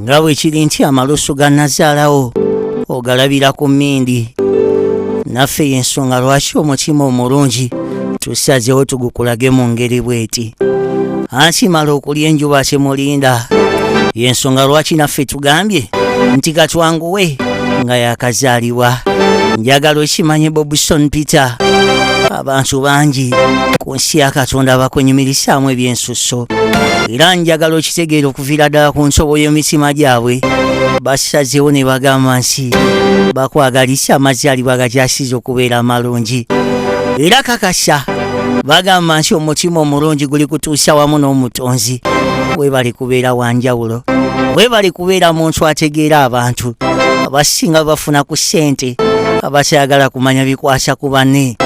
nga bwe kiri nti amalusu ga nazaalawo ogalabira ku mmindi naffe y'ensonga lwaki omutima omulungi tusazeewo tugukulage mu ngeri bweti akimala okulya enjuba kimulinda y'ensonga lwaki naffe tugambye nti katwanguwe nga yakazaalibwa njagala okimanye bobson peter abantu bangi ku nsi ya katonda bakunyumirisaamu ebyensu sso era njagala okitegeera okuviira ddala ku nsobo y'emitima gyabwe basazeewo ne bagamba nsi bakwagalisa amazaalibwa gakyasiza okubeera amalungi era kakasa bagamba nsi omutima omulungi guli kutuusa wamu n'omutonzi webali kubeera wanjawulo webali kubeera muntu ategeera abantu abasinga bafuna ku ssente abakyagala kumanya bikwasa ku banne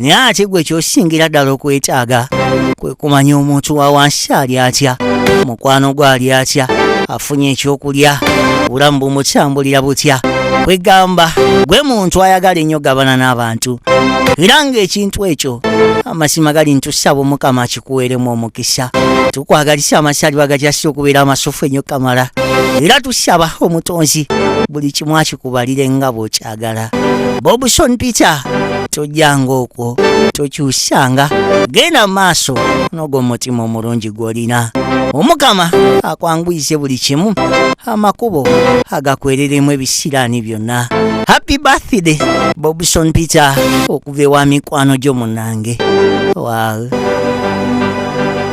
naye ate gwe kyosingira ddala okwetaaga kumanya omuntu wa wansi ali atya mukwano gwe ali atya afunye ekyokulya obulamu bumukyambulira butya kwegamba gwe muntu ayagala ennyo gabana n'abantu era ng'ekintu ekyo amasiima gali ntusaba omukama akikuweeremu omukisa tukwagalisa amasaali bagakyasi okubeera amasufu ennyo kamala era tusaba omutonzi buli kimu akikubalire nga bwokya kwagala bobson peter tojjanga okwo tokyusanga genda mu maaso n'ogwo omutima omulungi gw'olina omukama akwanguyize buli kimu amakubo agakwereremu ebisiraani byonna happy birthday bobson peter okuva ewa mikwano gyo munange wow.